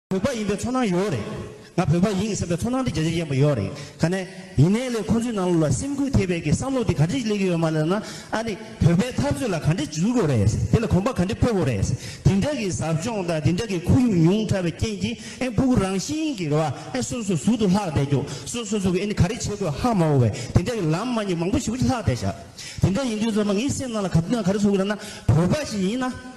བོད་པ་ཡིན་པའི་ཚོར་སྣང་ཡོད་རེད། ང་བོད་པ་ཡིན་ཟེར་བའི་ཚོར་སྣང་དེ་རྒྱ་ཆེར་སྐྱེན་པོ་ཡོད་རེད། ག་ནས་ཡིན་ནའི་ལས་ཁོང་ཚོའི་ནང་ལོགས་ལ་སེམས་ཁུར་ཐེབས་པའི་གི་བསམ་བློ་དེ་ག་འདྲས་སླེབས་ཀྱི་ཡོད་མ་རེད་ན། ཨ་ནི་བོད་པའི་འཐབ་རྩོད་ལ་ག་འདྲས་འཇུག་དགོས་རེད། དེ་ལ་གོམ་པ་ག་འདྲས་སྤོ་དགོས་རེད། དེ་འདྲ་གི་ཟབ་སྦྱོང་དང་དེ་འདྲ་གི་ཁོར་ཡུག་ཉུང་དྲགས་པའི་རྐྱེན་གྱིས་ཨེ་སྤུ་གུ་རང་བཞིན་གི་རེ་བ་ཨེ་སོ་སོའི་ཟུར་དུ་ལྷག་བསྡད་རྒྱུ། སོ་སོ་ཟུར་གི་ཨེ་ནི་ག་རེ་བྱེད་དགོས་ཧ་མ་འོ་བའི་དེ་འདྲ་གི་ལམ་མ་ཉེས་མང་པོ་ཞིག་ལྷག་བསྡད་བཞག། དེ་འདྲ་ཡིན་དུས་ཚོད་མ་ངའི་སེམས་ནང་ལ་ག་དུས་ན་ག་རེ་ཟུག་གི་རེད་ན། བོད་པ་ཞིག་ཡིན་ན།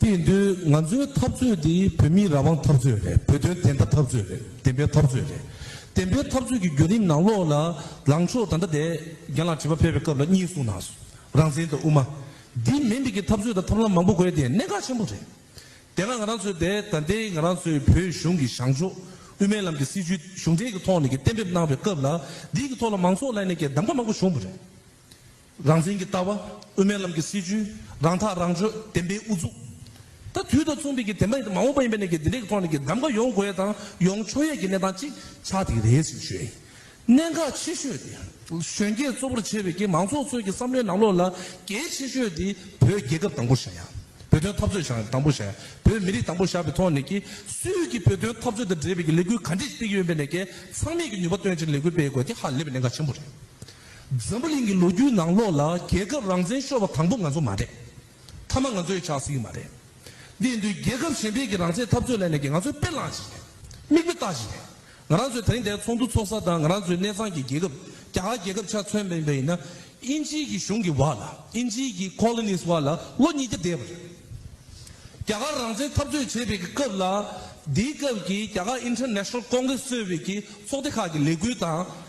དེས་འདོད་ང་ཚོའི་འཐབ་རྩོད་འདི་བོད་མིའི་རང་དབང་འཐབ་རྩོད་རེད་བོད་དོན་བདེན་མཐའ་འཐབ་རྩོད་རེད་བདེན་པའི་འཐབ་རྩོད་རེད། བདེན་པའི་འཐབ་རྩོད་ཀྱི་བརྒྱུད་རིམ་ནང་ལོགས་ལ་ལངས་ཕྱོགས་ད་ལྟ་དེ་རྒན་ལགས་དྲི་བ་ཕེབས་པའི་སྐབས་ལ་གཉིས་གསུངས་ན་རང་བཙན་དང་དབུ་མ། འདི་མེད་མེད་ཀྱི་འཐབ་རྩོད་དང་ཐབས་ལམ་མང་པོ་དགོས་དེ་གནད་འགག་ཆེན་པོ་རེད། དེ་སྔ་ང་རང་ཚོས་དེ་ད་ལྟའི་ང་རང་ཚོའི་བོད་གཞུང་གི་བྱང་ཕྱོགས་དབུ་མའི་ལམ་གྱི་སྲིད་བྱུས་གཞུང་འབྲེལ་གྱི་ཐོག་ནས་ཀྱི་གཏན་འབེབས་གནང་བའི་སྐབས་ལ་འདིའི་གྱི་ཐོག་ལ་མང་ཚོགས་ལ་ནས་ཀྱི་གདམ་ག་མང་པོ་བྱུང་བ་རེད། རང་བཙན་གྱི་ལྟ་བ། དབུ་མའི་ལམ་གྱི་སྲིད་བྱུས། རང་ཐག་རང་གཅོད་བདེན་པའི་དབུ་གཙུག། ད་དུས་ད་མཚུངས་བོད་ཀྱི་བདེན་པ་ཡིན་དང་མ་འོངས་པ་ཡིན་པའི་གནད་ཀྱི་འདི་འདྲའི་ཐོག་ནས་ཀྱི་གདམ་ག་ཡོང་དགོས་ཡས་དང་ཡོང་ཆོག་ཡས་ཀྱི་གནས་སྟངས་ཅིག་ཆགས་འདི་རེད་ཟེར་ཞུ་ཡས་ཡིན། གནད་འགག་ཆེ་ཤོས་དེ། གཞོན་སྐྱེས་གཙོ་བོར་བྱས་པའི་ཀྱི་མང་ཚོགས་ཚོས་ཀྱི་བསམ་བློའི་ནང་ལོགས་ལ་གལ་ཆེ་ཤོས་དེ་བོད་རྒྱལ་ཁབ་དང་པོ་བཞག་ཡང། བོད་དོན་འཐབ་རྩོད་བཞག་ཡང་དང་པོ་བཞག་ཡང་བོད་མི་རིགས་དང་པོ་བཞག་པའི་ཐོག་ནས་ཀྱི་སུས་ཀྱི་བོད་དོན་འཐབ་རྩོད་དང་འབྲེལ་བའི་ཀྱི་ལས་འགུལ་ག་འདྲས་སྤེལ་གྱི་ཡོད་པའི་ནས་ཀྱི་ཚང་མས་ཀྱི་ནུས་པ་བཏོན་ཅིག་ལས་འགུལ་སྤེལ་དགོས་དེ་ཧ་ལས་པའི་གནད་འགག་ཆེན་པོ་རེད། འཛམ་བུ་གླིང་གི་ལོ་རྒྱུས་ནང་ལོགས་ལ་རྒྱལ་ཁབ་རང་བཙན་ཤོར་བ་དང་པོ་ང་ཚོ་མ་རེད། མཐའ་མ་ང་ཚོ་ཡིས་ཆགས་སྲིད་ཀྱི་མ་རེད། འདིས་མདུན་རྒྱལ་ཁབ་གཞན་འཕེལ་གྱི་རང་བཙན་འཐབ་རྩོད་ལས་གནས་ཀྱི་ང་ཚོའི་དཔེ་བླངས་བཞིན་རེད། མིག་དཔེ་ལྟ་བཞིན་རེད། ང་རང་ཚོས་ད་རིང་འདའི་ཚོགས་འདུ་འཚོགས་ས་དང་ང་རང་ཚོའི་གནས་ཚང་གི་རྒྱལ་ཁབ་རྒྱ་གར་རྒྱལ་ཁབ་ཆ་མཚོན་པ་ཡིན་པ་ཡིན་ན། དབྱིན་ཇིའི་གི་གཞུང་གི་བར་ལ་དབྱིན་ཇིའི་གི Colonies བར་ལ་ལོ་ཉིས་བརྒྱ་འདས་པ་རེད། རྒྱ་གར་རང་བཙན་འཐབ་རྩོད་བྱེད་པའི་གི་སྐབས་ལ། དེའི་སྐབས་ཀྱི་རྒྱ་གར International Congress གཙོས་པའི་གི་ཚོགས་སྡེ་ཁག་གི་ལས་འགུལ་དང།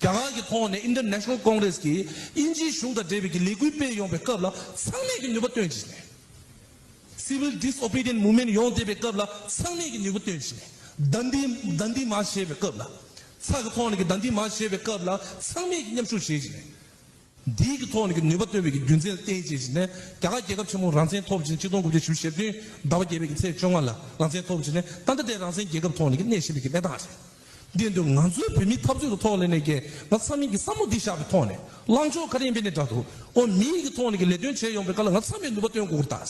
རྒྱ་གར་གྱི་ཁོངས་ནས International Congress གྱིས་དབྱིན་ཇིའི་གཞུང་དང་འབྲེལ་བའི་ཀྱི་ལས་འགུལ་སྤེལ་ཡོང་པའི་སྐབས་ལ་ཚང་མས་ཀྱི་ནུས་པ་བཏོན་བྱས་ནས། Civil Disobedient Movement ཡོང་བསྡད་པའི་སྐབས་ལ་ཚང་མས་ཀྱི་ནུས་པ་བཏོན་བྱས་ནས། བདག་འདི་བདག་འདི་མ་བྱས་པའི་སྐབས་ལ། ཚགས་ཀྱི་ཁོངས་ནས་ཀྱི་བདག་འདི་མ་བྱས་པའི་སྐབས་ལ་ཚང་མས་ཀྱི་མཉམ་ཞུགས་བྱས་བྱས་ནས། འདི་གི་ཐོག་ནས་ཀྱི་ནུས་པ་བཏོན་པའི་ཀྱི་རྒྱུ་མཚན་ལ་བརྟེན་བྱས་ཕྱིན་ནས་རྒྱ་གར་རྒྱལ་ཁབ་ཆེན་མོ་རང་བཙན་ཐོབ་ཕྱིན་གཅིག་སྟོང་དགུ་བརྒྱ་ཞུ་ཞེ་བདུན་ཟླ་བ་བརྒྱད་པའི་ཀྱི་ཚེས་བཅོ་ལྔ་ལ་རང་བཙན་ཐོབ་ཕྱིན་ནས་ད་ལྟ་དེ་རང་བཙན་རྒྱལ་ཁབ་ཐོག་ནས་ཀྱི་གནས་བཞིན་པའི་ཀྱི་གནས་སྟངས་རེད། འདི་འདུག་ང་ཚོའི་བོད་མིའི་འཐབ་རྩོད་ཀྱི་ཐོག་ལས་ནས་ཀྱི་ང་ཚ་མིན་ཀྱི་བསམ་བློ་འདི་བཞག་པའི་ཐོག་ནས་ལངས་ཕྱོགས་ག་རེ་ཡིན་པའི་ནས་འདྲ་འདུག་ཨོ་མིའི་ཀྱི་ཐོག་ནས་ཀྱི་ལས་དོན་བྱས་ཡོང་པའི་ཀ་ལ་ང་ཚ་མེད་ནུས་པ་བཏོན་དགོས་ཀྱི་ད།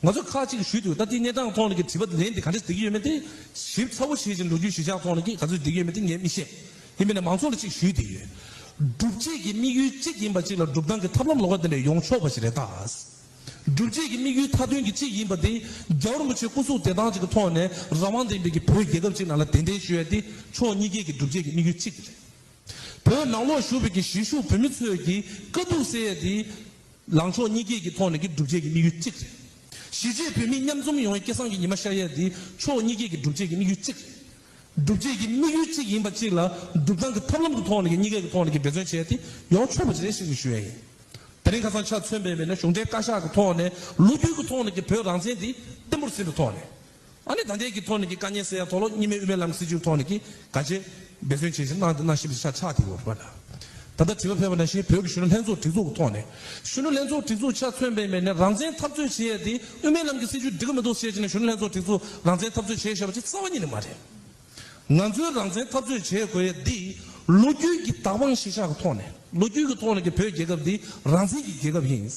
ང་ཚོས་ཁག་གཅིག་གིས་ཞུས་འདུག་ད་ལྟའི་གནས་སྟངས་ཐོག་ནས་ཀྱི་དྲི་བ་ལན་དེ་ག་འདྲས་འདེགས་ཀྱི་ཡོད་མེད་དེ་ཞིབ་ཚགས་པོ་བྱེད་ཅིང་འགྲོ་རྒྱུའི་གཞི་ཆགས་ཐོག་ནས་ཀྱི་ག་ཚོད་འདེགས་ཀྱི་ཡོད་མེད་དེ་ངས་མི་ཤེས། ཡིན་པས་ན་མང་ཚོགས་ལ་གཅིག་ཞུས་བསྡད་ཡོད། སྒྲུབ་བྱེད་ཀྱི་དམིགས་ཡུལ་གཅིག་ཡིན་པ་གཅིག་ལ་སྒྲུབ་སྟངས་ཀྱི་ཐབས་ལམ་ལོགས་ཀ་ལྡན་པས་ཡོང་ཆོག་པ་ཞིག་རེད་དཱ། སྒྲུབ་བྱེད་ཀྱི་དམིགས་ཡུལ་མཐའ་དོན་གྱི་གཅིག་ཡིན་པ་དེ་རྒྱ་རིན་པོ་ཆེ་སྐུ་གཟུགས་བདེ་ཐང་ཅིག་གི་ཐོག་ནས་རང་དབང་ལྡན་པའི་ཀྱི་བོད་རྒྱལ་ཁབ་ཅིག་ནང་ལ་གདན་འདྲེན་ཞུ་ཡ་དེ་ཕྱོགས་གཉིས་ཀའི་ཀྱི་སྒྲུབ་བྱེད་ཀྱི་དམིགས་ཡུལ་གཅིག་རེད། བོད་ནང་ལོག་བཞུགས་པའི་ཀྱི་གཞིས་བཞུགས་བོད་མི་ཚོས་ཀྱི་དཀའ་སྡུག་སེལ་ཡ་དེ། ལངས་ཕྱོགས་གཉིས་སྐྱེས་ཀྱི་ཐོག་ནས་ཀྱི་སྒྲུབ་བྱེད་ཀྱི་དམིགས་ཡུལ་གཅིག་རེད། གཞིས་བྱེས་བོད་མི་མཉམ་འཛོམས་ཡོང་བའི་སྐལ་བཟང་གི་ཉི་མ་ཤར་ཡས་འདི་ཕྱོགས་གཉིས་སྐྱེས་ཀྱི་སྒྲུབ་བྱེད་ཀྱི་དམིགས་ཡུལ་གཅིག་རེད། སྒྲུབ་བྱེད་ཀྱི་དམིགས་ཡུལ་གཅིག་ཡིན་པ་གཅིག་ལ་སྒྲུབ་སྟངས་ཀྱི་ཐབས་ལམ་གྱི་ཐོག་ནས་ཀྱི་གཉིས་སྐྱེས་ཀྱི་ཐོག་ནས་ཀྱི་འབད་བརྩོན་བྱས་ཏེ་ཡོང་ཆོག་པ་ཅི་རེད་ཤེས་ཀྱི་ཞུ་ཡས་ཡིན། དེ་རིང་ཁ་སང་ཆ་མཚོན་པའི་བས་ན་གཞུང་འབྲེལ་བཀའ་ཤག་གི་ཐོག་ནས་ལོ་རྒྱུས་ཀྱི་ཐོག་ནས་ཀྱི་བོད་རང་བཙན་འདི་བརྟན་པོར་ཟིན་པའི་ཐོག་ནས། ཨ་ནེ་ད་ཐེངས་ཀྱི་ཐོག་ནས་ཀྱི་དཀའ་ཉེན་སེལ་ཡ་དོགས་སློབ་གཉིས་མའི་དབུ་མའི་ལམ་གྱི་སྲིད་བྱུས་ཐོག་ནས་ཀྱི་དགའ་བྱེད་འབད་བརྩོན་བྱེད་བཞིན་གནང་འདི་གནང་ཤིན་པ་ཆ་ཆག་དེ་ཡོད་རེད་པ་ལ། ད་ལྟ་དྲི་བ་ཕེབས་པ་ན་བཞིན་བོད་ཀྱི་གཞོན་ནུ་ལྷན་ཚོགས་སྒྲིག་འཛུགས་ཀྱི་ཐོག་ནས་གཞོན་ནུ་ལྷན་ཚོགས་སྒྲིག་འཛུགས་ཆ་མཚོན་པའི་མེད་ནས་རང་བཙན་འཐབ་རྩོད་བྱེད་ཡ་དེ་དབུ་མའི་ལམ་གྱི་སྲིད་བྱུས་འགྲིག་གི་མི་འདུག་ཟེར་བཞིན་ནས་གཞོན་ནུ་ལྷན་ཚོགས་སྒྲིག་འཛུགས་རང་བཙན་འཐབ་རྩོད་བྱེད་ཞེས་པ་དེ་རྩ་བ་ཉིད་ནས་མ་རེད། ང་ཚོའི་རང་བཙན་འཐབ་རྩོད་བྱེད་དགོས་ཡས་འདི་ལོ་རྒྱུས་ཀྱི་དག་དཔང་ཤེས་བྱ་གི་ཐོག་ནས་ལོ་རྒྱུས་ཀྱི་ཐོག་ནས་ཀྱི་བོད་རྒྱལ་ཁབ་འདི་རང་བཙན་གྱི་རྒྱལ་ཁབ་ཡིན།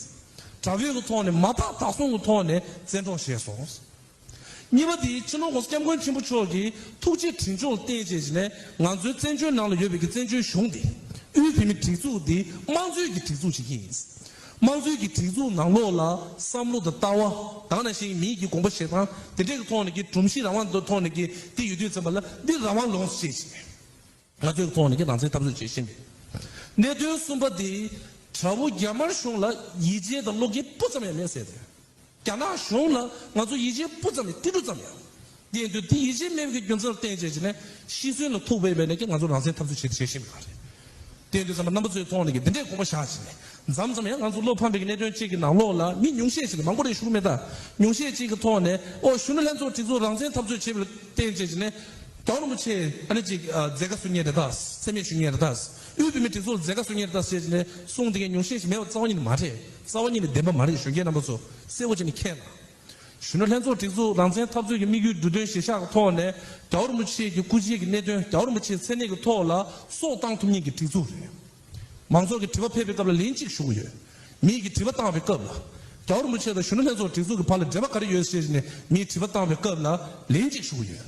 དགྲ་བོད་ཀྱི་ཐོག་ནས་མ་དག་དག་སོང་གི་ཐོག་ནས་བཙན་འཕྲོག་བྱས་སོང། གཉིས་པ་འདི་ཕྱི་ནང་གོང་ས་སྐྱབས་མགོན་ཆེན་པོ་མཆོག་གིས་ཐུགས་རྗེ་དྲིན་སྦྱོང་རྟེན་བཅས་བྱས་ནས་ང་ཚོའི་བཙན་བྱོལ་ནང་ལ་ཡོད་པའི་ཀྱི་བཙན་བྱོལ་གཞུང་འདི་དབུས་བོད་མི་སྒྲིག་འཛུགས་འདི་དམངས་གཙོའི་གྱི་སྒྲིག་འཛུགས་ཅིག་ཡིན། དམངས་གཙོའི་གི་སྒྲིག་འཛུགས་ནང་ལོགས་ལ་བསམ་བློ་དང་ལྟ་བ་གང་ནང་བཞིན་མིའི་གི་དགོངས་པ་བཞེད་སྟངས་དེ་འདྲས་ཀི་ཐོག་ནས་གི་གྲུམ་གཞི་རང་དབང་ཐོག་ནས་གི་འདི་ཡོད་དུས་ཚན་པ་ལ་འདི་རང་དབང་ལོངས་བྱེད་བཞིན་མེད། ང་ཚོའི་གི་ཐོག་ནས་གི་རང་བཙན་འཐབ་རྩོད་བྱེད་བཞིན་མེད། གནད་དོན་གསུམ་པ་དེ་དྲ་བོ་རྒྱ་དམར་གཞུང་ལ་ཡིད་ཆེས་དང་བློ་འགེལ་སྤུ་ཙམ་ཡང་མེད་ཟེར་དོན། རྒྱ་ནག་གཞུང་ལ་ང་ཚོ་ཡིད་ཆེས་སྤུ་ཙམ་མེད་ཏིལ་འབྲུ་ཙམ་ཡང་མེད། དེ་འདི་ཡིད་ཆེས་མེད་པའི་རྒྱུ་མཚན་ལ་བརྟེན་བྱས་ཀྱི་ནི་ཤི་གསོན་ལ་ཐུག་པའི་བས་ནས་ཀྱང་ང་ཚོ་རང་བཙན་འཐབ་རྩོད་བྱེད་དུ་བྱེད་བཞིན་པ་རེད། དེ་འདི་རྩམ་པ་རྣམ་པ་ཚོའི་ཐོག་ནས་ཀྱི་འདི་འདྲའི་དགོངས་པ་བཞག་ཅིག་ནས་འཛམ་ཙམ་ཡང་ང་ཚོ་བློ་ཕམ་པའི་གནད་དོན་བཅས་ཀྱི་ནང་ལོགས་ལ་མི་ཉུང་ཤས་ཅིག་མང་པོ་རེ་ཞུགས་མེད་ད་ཉུང་ཤས་ཅིག་གི་ཐོག་ནས་ཨོ་གཞོན་ནུ་ལྷན་ཚོགས་གྲི་ཚོགས་རང་བཙན་འཐབ་རྩོད་བྱེད་པ་ལ་བརྟེན་བྱས་ཀྱི་ནི། དོན་རིན་པོ་ཆེ་ཨ་ནི་ཅིག་མཛད་དཀའ་བཟོ་ངེས་རེད་ད་སེམས་མེད་ཞུ་ངེས་རེད་ད། དབུས་བོད་མིའི་སྒྲིག་འཛུགས་ལ་མཛད་དཀའ་སོ་ཉེར་བདག་ཟེར་ནས་གསུངས་དེ་གས་ཉུང་ཤས་ཤིག་མེད་པ་རྩ་བ་ཉིད་ནས་མ་རེད་རྩ་བ་ཉིད་ནས་བདེན་པ་མ་རེད་གཞོན་སྐྱེས་རྣམ་པ་ཚོ་གསལ་བོ་བྱས་ནས་མཁྱེན་ལ། གཞོན་ནུ་ལྷན་ཚོགས་སྒྲིག་འཛུགས་རང་བཙན་འཐབ་རྩོད་ཀྱི་དམིགས་ཡུལ་འབྲུ་དོན་གཞིར་བཞག་གི་ཐོག་ནས་རྒྱ་བོར་མུ་ཆེ་གི་སྐུ་བྱེད་ཀྱི་གནད་དོན་རྒྱ་བོར་མུ་ཆེའི་མཚན་གནས་ཀྱི་ཐོག་ལ་སོགས་བཏང་ཐུབ་ཉིན་གྱི་སྒྲིག་འཛུགས་རེད། མང་ཚོགས་ཀྱི་དྲི་བ་ཕེབས་པའི་སྐབས་ལ་ལན་གཅིག་ཞུ་གི་ཡོད། མིས་ཀྱི་དྲི་བ་བཏང་བའི་སྐབས་ལ། རྒྱ་བོར་མུ་ཆེ་དང་གཞོན་ནུ་ལྷན་ཚོགས་སྒྲིག་འཛུགས་ཀྱི་བར་ལ་འབྲེལ་བ་ག་རེ་ཡོད་ཟེར་ནས་མིས་དྲི་བ་བཏང་བའི་སྐབས་ལ་ལན་གཅིག་ཞུ་གི་ཡོད།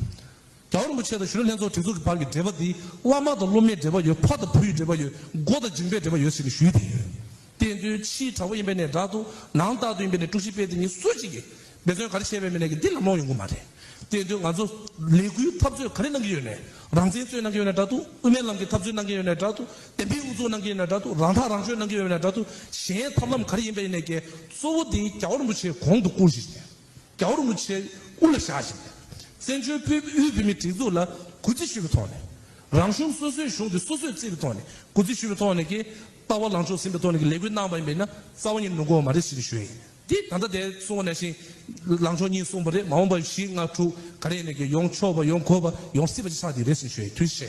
རྒྱ་བོད་རིན་པོ་ཆེ་དང་ཞུ་རོལ་ལྷན་ཚོགས་སྒྲིག་འཛུགས་ཀྱི་བར་གྱི་འབྲེལ་བ་འདི་བླ་མ་དང་སློབ་མའི་འབྲེལ་བ་ཡོད་ཕ་དང་བུ་ཡི་འབྲེལ་བ་ཡོད་མགོ་དང་མཇིང་པའི་འབྲེལ་བ་ཡོད་ཟེར་ནས་ཞུས་བསྡད་ཡོད། བསྟན་དོན་ཕྱིའི་དྲ་བ་ཡིན་པའི་ནས་དྲ་དུ་ནང་རྟག་ཏུ་ཡིན་པའི་ནས་དཀྲུག་ཤིང་སྤེལ་དེ་ཉིད་སུ་གཅིག་གིས་འབད་བརྩོན་ག་རེ་བྱས་པའི་མི་ནས་ཀྱི་འདི་ལམ་ལོང་ཡོང་གི་མ་རེད། བསྟན་དོན་ང་ཚོ་ལས་འགུལ་འཐབ་རྩོད་ག་རེ་གནང་གི་ཡོད་ནས་རང་བཙན་རྩོད་གནང་གི་ཡོད་ནས་དྲ་དུ་དབུ་མའི་ལམ་གྱི་འཐབ་རྩོད་གནང་གི་ཡོད་ནས་དྲ་དུ་བསྟན་པའི་དབུ་འཛུགས་གནང་གི་ཡོད་ནས་དྲ་དུ་རང་ཐག་རང་གཅོད་གནང་གི་ཡོད་པའི་ནས་དྲ་དུ་གཞན་ཐབས་ལམ་ག་རེ་ཡིན་པའི་ནས་ཀྱི་གཙོ་བོ་འདི་རྒྱ་བོད་རིན་པོ་ཆེ་གོང་དུ་བཀུར་བཞིན་རྒྱ་འུར་མུ་ཆེ་དབུ་ལ་བཞག་བཞིན་པའི་བཙན་བྱོལ་བོད་དབུས་བོད་མིའི་སྒྲིག་འཛུགས་ལ་གུས་བརྩི་ཞུ་བའི་ཐོག་ནས། རང་གཞུང་སོ་སོའི་གཞུང་དེ་སོ་སོས་བརྩི་བའི་ཐོག་ནས་གུས་བརྩི་ཞུ་བའི་ཐོག་ནས་ཀྱི་ལྟ་བ་ལངས་ཕྱོགས་ཟིན་པའི་ཐོག་ནས་ཀྱི་ལས་འགུལ་གནང་བ་ཡིན་པས་ན་རྩ་བ་ཉིད་ནུ་གོ་མ་རེད་ཞེས་ཞུ་ཡི་ཡིན། འདི་ད་ལྟ་དེ་གསུང་བ་ནས་བཞིན་ལངས་ཕྱོགས་གཉིས་གསུངས་པ་རེད་མ་འོངས་པ་བཞི་ལྔ་དྲུག་ག་རེ་ནས་ཀྱི་ཡོང་ཆོག་པ་ཡོང་དགོས་པ་ཡོང་སྲིད་པ་ཞིག་ཆགས་ཀྱི་རེད་ཞེས་ཞུ་ཡི་དུས་བཞི།